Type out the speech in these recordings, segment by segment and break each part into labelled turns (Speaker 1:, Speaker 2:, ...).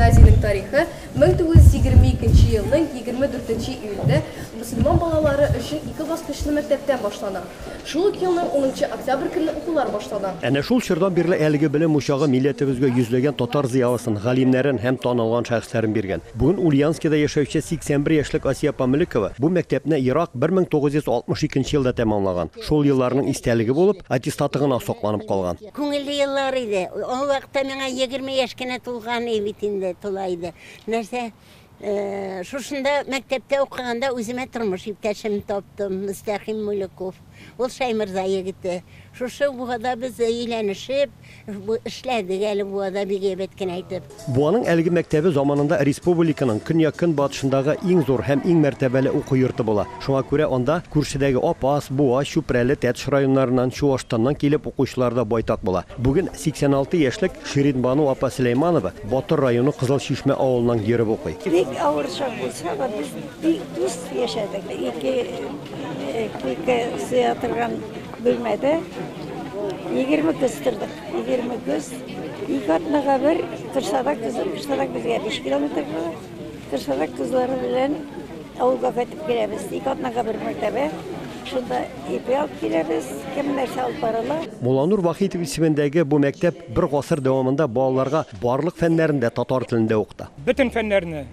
Speaker 1: Гимназиянең тарихы 1922 нче елның 24 нче июльдә мөселман балалары өчен ике баскычлы мәктәптән башлана. Шул ук елның 10 нчы октябрь көнне укулар башлана. Әнә шул чордан бирле
Speaker 2: әлеге белем учагы милләтебезгә йөзләгән татар зыялысын, галимнәрен һәм танылган шәхесләрен биргән. Бүген Ульяновскида яшәүче 81 яшьлек Асия Памлекова бу мәктәпне ерак 1962 нче елда тәмамлаган. Шул елларның истәлеге булып, аттестаты гына сакланып калган. Күңелле еллар
Speaker 3: иде. Ул вакытта миңа егерме яшь кенә тулган и бит инде, тула иде. Нәрсә, шушында мәктәптә укыганда үземә тормыш иптәшем таптым, Мөстәхим Мулюков. Ул Шәймырза егете. Шушы Буада без өйләнешеп, эшләдек әле Буада бик әйбәт кенә итеп. Буаның әлеге мәктәбе
Speaker 2: заманында респубуликаның көньяк-көнбатышындагы иң зур һәм иң мәртәбәле уку йорты була. Шуңа күрә анда күршедәге Апас, Буа, Чүпрәле, Тәтеш районнарыннан, Чуашстаннан килеп укучылар да байтак була. Бүген 86 яшьлек Ширинбану апа Сөләйманова Батыр районы Кызыл Чишмә авылыннан йөреп укый. Бик авыр чак
Speaker 4: булса да, без бик дус яшәдек. Ике койка сыя торган бүлмәдә егерме кыз тордык. Егерме көз, ике атнага бер кыршадак көзен, кыштадак безгә биш километр була. Кыршадак көзләре белән авылга кайтып керәбез. Ике атнага бер мәртәбә. Шунда ипи алып киләбез, кем нәрсә алып барыла. Мулланур Вахитов
Speaker 2: исемендәге бу мәктәп бер гасыр дәвамында балаларга барлык фәннәрне дә татар телендә укыта. Бөтен фәннәрне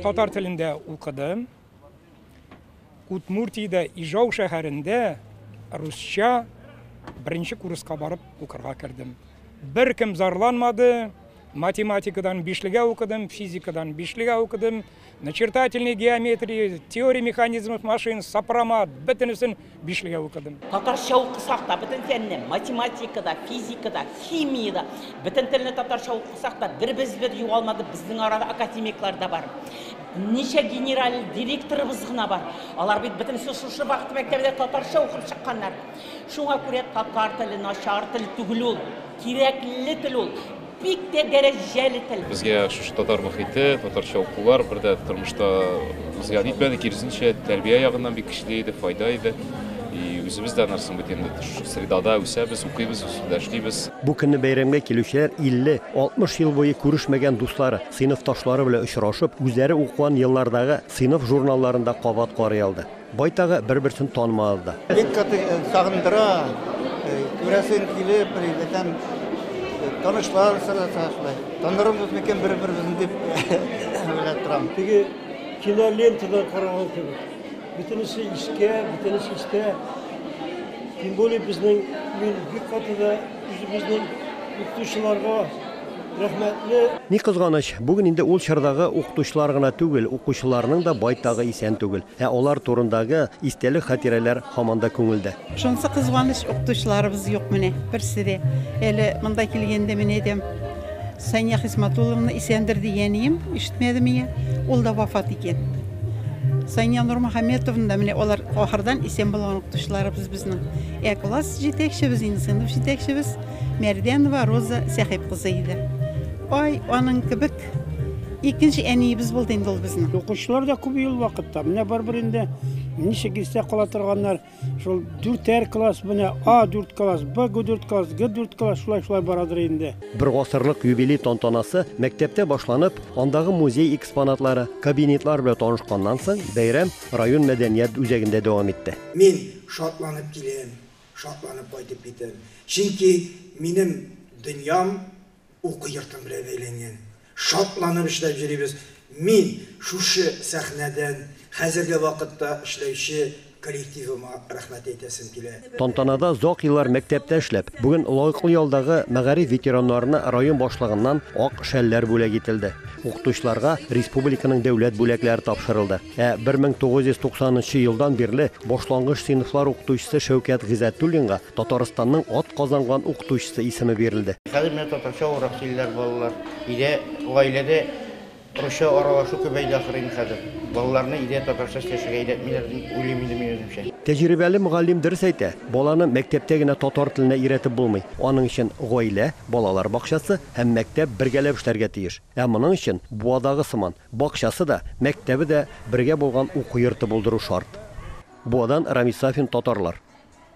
Speaker 5: татар телендә укыдым. Удмуртиядә Ижау шәһәрендә русча беренче курска барып укырга кердем. Беркем зарланмады. Математикадан бишлегә укыдым, физикадан бишлегә укыдым, начертательный геометрия, теория механизмов машин, сопромат, бөтенесен бишлегә укыдым. Татарча укысак
Speaker 6: та, бөтен фәнне, математикада, физикада, химиядә, бөтен телне татарча укысак та, бер без бер югалмады, безнең арада академиклар да бар. Ничә генераль директорыбыз гына бар. Алар бит бөтенесе шушы вакыт мәктәбендә татарча укып чыкканнар. Шуңа күрә татар теле начар тел түгел ул. Кирәкле тел ул. Бик тә дәрәҗәле тел. Безгә шушы татар
Speaker 7: мөхите, татарча укулар бер дә тормышта зыян итмәде, киресенчә, тәрбия ягыннан бик көчле иде, файда иде. И үзебез дә анарсын бит инде шушы средада үсәбез, укыйбыз, усында эшлибез. Бу көнне бәйрәмгә
Speaker 2: килүчеләр 50-60 ел буе күрешмәгән дуслары, сыйныфташлары белән очрашып, үзләре укыган еллардагы сыйныф журналларын да кабат карый алды. Байтагы бер-берсен танымады да. Бик каты
Speaker 8: сагындыра, күрәсең килеп, бетәм, танышлар сораса шулай. Танырбыз микән бер-беребезне дип уйлап торам. Теге
Speaker 9: кинолентада караган кебек. Бөтенесе искә, бөтенесе истә. Тем более безнең мин бик каты да үзебезнең укытучыларга рәхмәтле. Ни кызганыч,
Speaker 2: бүген инде ул чордагы укытучылар гына түгел, укучыларның да байтагы исән түгел. Ә алар турындагы истәлек хатирәләр һаман да күңелдә. Шунысы кызганыч,
Speaker 10: укытучыларыбыз юк менә, берсе дә. Әле монда килгәндә мин әйтәм, Сания Хисматулловна исәндер дигәнием, ишетмәдем ия, ул да вафат икән. Сания Нурмөхәммәтовна да менә алар ахырдан исән булган укытучыларыбыз безнең. Ә класс җитәкчебез, инде сыйныф җитәкчебез Мәрдәнова Роза Сәхип кызы иде. Ай, аның кебек Икенче әниебез булды инде ул безнең. Укучылар да күп ел
Speaker 9: вакытта. Менә барыбер инде ничек истә кала торганнар. Шул дүртәр класс, менә А4 класс, Б4 класс, Г4 класс шулай шулай барадыр инде. Бер гасырлык
Speaker 2: юбилей тантанасы мәктәптә башланып, андагы музей экспонатлары, кабинетлар белән танышканнан соң, бәйрәм район мәдәният үзәгендә дәвам итте. Мин шатланып
Speaker 11: киләм, шатланып кайтып китәм. Чөнки минем дөньям уку йортым белән әйләнгән. Шатланып эшләп йөрибез. Мин шушы сәхнәдән хәзерге вакытта эшләүче коллективыма рәхмәт әйтәсем килә. Тантанада озак
Speaker 2: еллар мәктәптә эшләп, бүген лаеклы ялдагы мәгариф ветераннарына район башлыгыннан ак шәлләр бүләк ителде. Укытучыларга республиканың дәүләт бүләкләре тапшырылды. Ә 1990 нчы елдан бирле башлангыч сыйныфлар укытучысы Шәүкәт Гыйззәтуллинга Татарстанның атказанган укытучысы исеме бирелде. Хәзер менә татарча
Speaker 8: урак киләләр балалар. Өйдә, гаиләдә русча аралашу күбәйде ахырыйм хәзер. Балаларны өйдә татарча сөйләшергә өйрәтмиләр дип уйлыйм инде мин үземчә. Тәҗрибәле мөгаллим
Speaker 2: дөрес әйтә, баланы мәктәптә генә татар теленә өйрәтеп булмый. Аның өчен гаилә, балалар бакчасы һәм мәктәп бергәләп эшләргә тиеш. Ә моның өчен, Буадагы сыман, бакчасы да, мәктәбе дә бергә булган уку йорты булдыру шарт. Буадан Рамис Сафин, Татарлар.